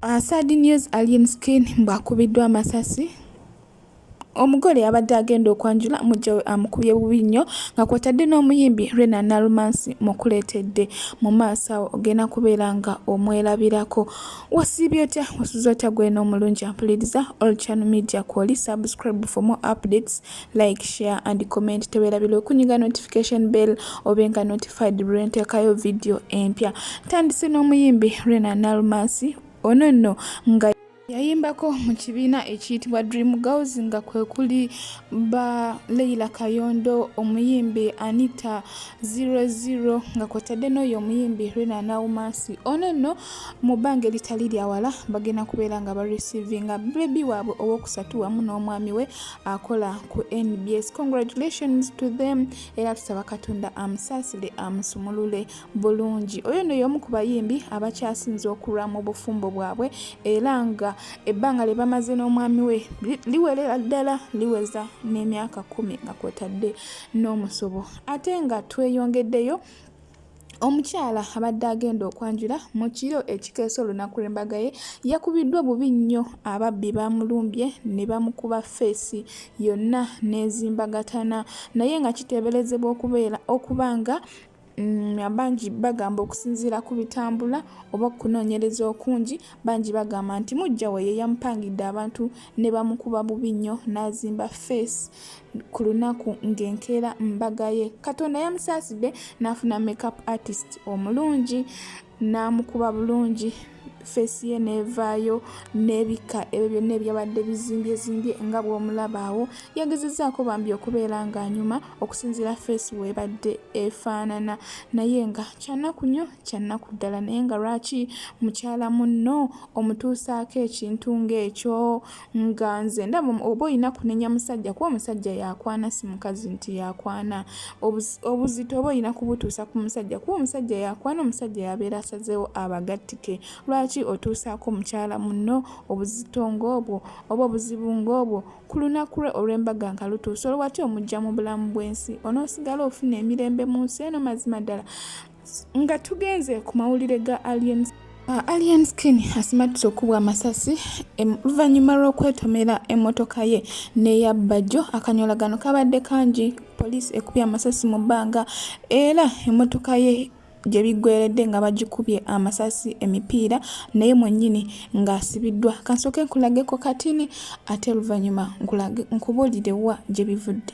Uh, sad news Alien Skin bwakubiddwa amasasi omugole yabadde agenda okwanjula mujja we amukubye bubi nnyo nga kwotadde n'omuyimbi rena nalumansi mukuleetedde mu maaso awo ogenda kubeera nga omwerabirako wasiibye otya wasuza otya gwena omulungi ampuliriza olchano media kwoli subscribe for more updates like share and comment tewerabira okunyiga notification bell obe nga notified lwentekayo video empya tandise n'omuyimbi rena nalmasi ono nno nga yayimbako mu kibiina ekiyitibwa dream girls nga kwe kuli ba leila kayondo omuyimbi anita 00 nga kwotadde n'oyo omuyimbi rena naumasi ono nno mu bbanga eritali lyawala bagenda kubeera nga barecivinga bebi waabwe owokusatu wamu n'omwami we akola ku nbs congratulations to them era tusaba katonda amusaasire amusumulule bulungi oyo no y'omu ku bayimbi abakyasinze okulwa mu bufumbo bwabwe era nga ebbanga lye bamaze n'omwami we liwerera ddala liweza n'emyaka kumi nga kwotadde n'omusobo ate nga tweyongeddeyo Omukyala abadde agenda okwanjula mu kiro ekikeesa olunaku lw'embaga ye yakubiddwa bubi nnyo ababbi baamulumbye ne bamukuba ffeesi yonna n'ezimbagatana naye nga kiteeberezebwa okubeera okuba nga Mm, abangi bagamba okusinziira ku bitambula oba okunoonyereza okungi bangi bagamba nti mujja we ye yamupangidde abantu ne bamukuba bubi nnyo n'azimba feesi ku lunaku ng'enkeera mbaga ye katonda yamusaasidde n'afuna makeup artist omulungi n'amukuba bulungi feesi ye n'evaayo n'ebikka ebyo byonna ebyabadde bizimbyezimby nga bw'omulabaawo yagezezaako bambi okubeera ng'anyuma okusinziira feesi weebadde efaanana naye nga kyannaku nnyo kyannaku ddala naye nga lwaki mukyala munno omutuusaako ekintu ng'ekyo nga nze ndaba oba olina kunenya musajja kuba omusajja yakwana si mukazi nti yakwana obuzito oba olina kubutuusa ku musajja kuba omusajja yakwana omusajja yabeera asazeewo abagattike lwaki otuusaako mukyala munno obuzito ng'obwo oba obuzibu ng'obwo ku lunaku lwe olw'embaga nga lutuusa olwati omujja mu bulamu bw'ensi onoosigala ofuna emirembe mu nsi eno mazima ddala nga tugenze ku mawulire ga alien Uh, Alien Skin asimatuse okubwa amasasi oluvannyuma lw'okwetomera emmotoka ye n'eya Bajjo. Akanyolagano kabadde kangi, poliisi ekubye amasasi mu bbanga era emmotoka ye gye biggweeredde nga bagikubye amasasi emipiira naye mwennyini ng'asibiddwa kansooke nkulageko katini ate oluvannyuma nkubuulire wa gye bivudde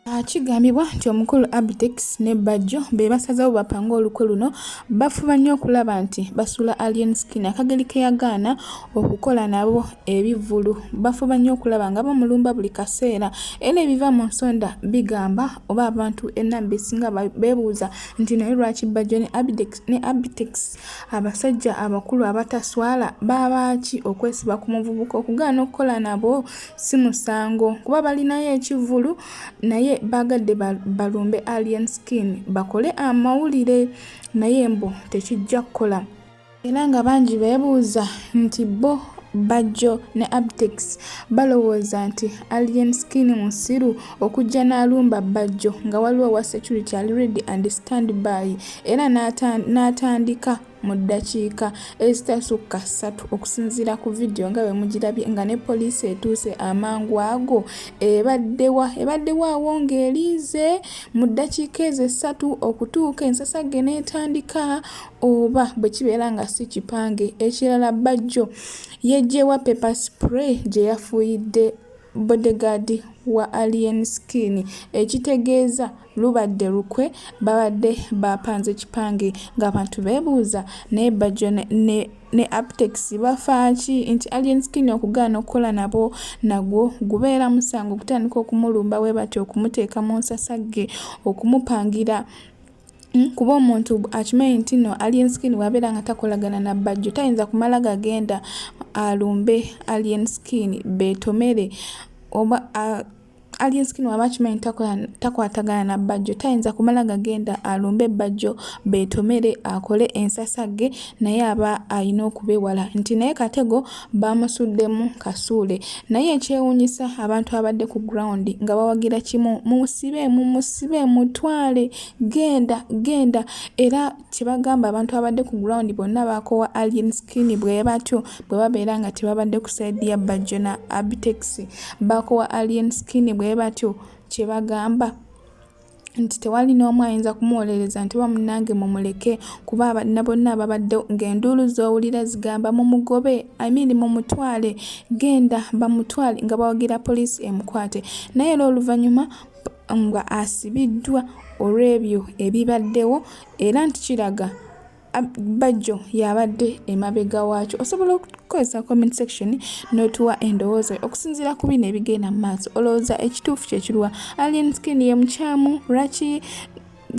Ah, kigambibwa nti omukulu Abtex ne Bajjo be basazeewo bapange olukwe luno bafuba nnyo okulaba nti basula Alien Skin akageri ke yagaana okukola nabo ebivvulu bafuba nnyo okulaba nga bamulumba buli kaseera era ebiva mu nsonda bigamba oba abantu enamba esinga beebuuza nti naye lwaki Bajjo ne Abtex abasajja abakulu abataswala baabaaki okwesiba ku muvubuka okugaana okukola nabo si musango kuba balinayo ekivulu naye bagadde balumbe alien skin bakole amawulire naye mbu tekijja kukola era nga bangi beebuuza nti bo bajjo ne abtex balowooza nti alien skin musiru okujja n'alumba bajjo nga waliwo wa security ali ready and stand by era n'atandika mu ddakiika ezitasukka ssatu okusinziira ku vidiyo nga bwe mugirabye nga ne poliisi etuuse amangu ago ebaddewa ebaddewo awo ng'eriize mu ddakiika ezo essatu okutuuka ensasagge n'etandika oba bwe kibeera nga si kipange ekirala bajjo yejjewa paper spray gye yafuuyidde bodegaadi wa alien skin ekitegeeza lubadde lukwe babadde bapanze kipange ng'abantu beebuuza naye bajjo ne, ne, ne aptex bafaaki nti alien skin okugaana okukola nabo nagwo gubeera musango okutandika okumulumba bwe batyo okumuteeka mu nsasagge okumupangira Hmm? kuba omuntu akimanyi nti no alien skin wabeera nga takolagana na bajjo tayinza kumala gagenda alumbe alien skin betomere oba Alyenski bw'aba akimanyi takwatagana na Bajjo tayinza kumala gagenda alumbe Bajjo beetomere akole ensasagge naye aba alina okubewala nti naye katego baamusuddemu kasuule naye ekyewuunyisa abantu abadde ku ground nga bawagira kimu mumusibe mumusibe mutwale genda genda era kyebagamba abantu abadde ku ground bonna bakowa alien skin bwebatyo bwebabeera nga tebabadde ku side ya bajjo na abtex bakowa alien skin bwebatyo kyebagamba nti tewali n'omu ayinza kumuwolereza nti bamunange mumuleke kuba abana bonna babadde ng'enduulu z'owulira zigamba mumugobe imean mumutwale genda bamutwale nga bawagira poliisi emukwate naye era oluvannyuma nga asibiddwa olw'ebyo ebibaddewo era nti kiraga bajjo yabadde emabega waakyo osobola okukozesa comment section n'otuwa endowooza okusinziira ku bino ebigenda mu maaso olowooza ekituufu kyekiruwa alien skin ye mukyamu lwaki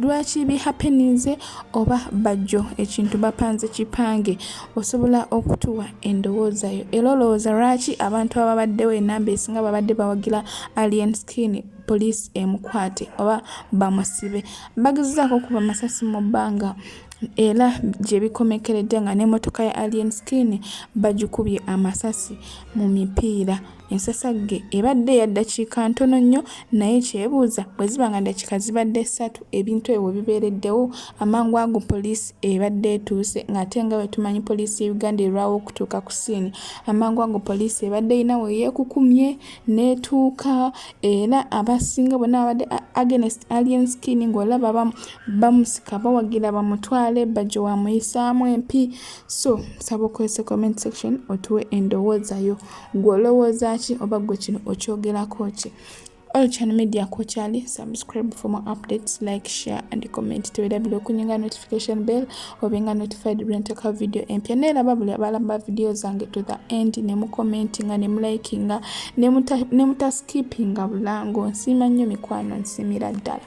lwaki bihapeninze oba bajjo ekintu bapanze kipange osobola okutuwa endowoozayo era olowooza lwaki abantu ababaddewo enamba esinga babadde bawagira alien skin poliisi emukwate oba bamusibe bagezezaako okuba masasi mu bbanga era gye bikomekeredde nga n'emmotoka ya alien skin bagikubye amasasi mu mipiira Ensasagge ebadde ya ddakiika ntono nnyo naye kyebuuza bwe ziba nga ddakiika zibadde ssatu ebintu ebyo we bibeereddewo amangu ago poliisi ebadde etuuse ng'ate nga bwe tumanyi poliisi y'e Uganda erwawo okutuuka ku siini amangu ago poliisi ebadde erina we yeekukumye n'etuuka era abasinga bonna babadde against alien skin ng'olaba bamusika bawagira bamutwale bajjo wamuyisaamu empi so nsaba okozese comment section otuwe endowooza yo gwe olowooza ki oba gwe kino okyogerako ki All channel media kochali subscribe for more updates like share and comment tewerabira okunyinga notification bell obenga notified bwenteka video empya naye laba buli abalamba video zange to the end ne mu commentinga ne mu likinga ne mutaskippinga bulango nsiima nnyo mikwano nsimira ddala